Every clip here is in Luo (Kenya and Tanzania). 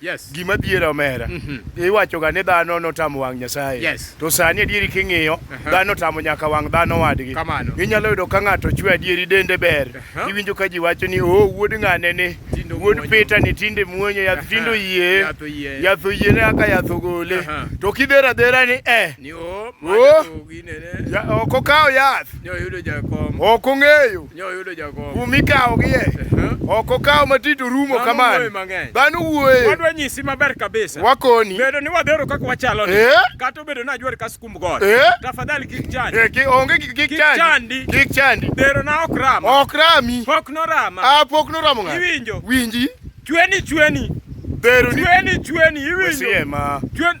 Yes. Gima dhiera omera. Mm -hmm. Iwacho ga ni dhano notamo wang' Nyasaye. Yes. To sani adieri king'iyo, uh -huh. dhano tamo nyaka wang' dhano wadgi. Kamano. Inyalo yudo ka ng'ato chwe adieri dende ber. Uh -huh. Iwinjo ka ji wacho ni oh wuod ng'ane ni wuod Peter ni tinde muonyo yath uh -huh. tindo yie. Yatho yie. Yatho yie ne aka yatho gole. Uh -huh. To kidhera dhera ni eh. Ni oh. Oh. Ya, ok okawo yath. Ni oyudo jakom. Ok ong'eyo. Nyoyudo jakom. Kuma ikawogie. Ok okaw matito rumo kamano. Dhano wuoye. Wadwa nyisi maber kabisa. Wakoni. Bedo ni wadhero kaka wachalo ni. Eh? Kata obedo ni ajwar ka skumb god. Eh? Tafadhali kik chandi. Eh, ki onge kik chandi. Kik chandi. Kik chandi. Dhero na ok rama. Ok rami. Pok no rama. Ah, pok no rama ng'a. Iwinjo. Winji. Chweni chweni. Dhero ni. Chweni chweni iwinjo. Wesiema. Chweni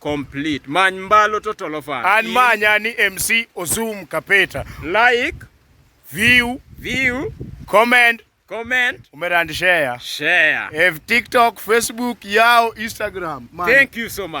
complete many mbalo to tolofan an manya ni mc osum kapeta like view view comment comment umera and share share if tiktok facebook yao instagram man. thank you so much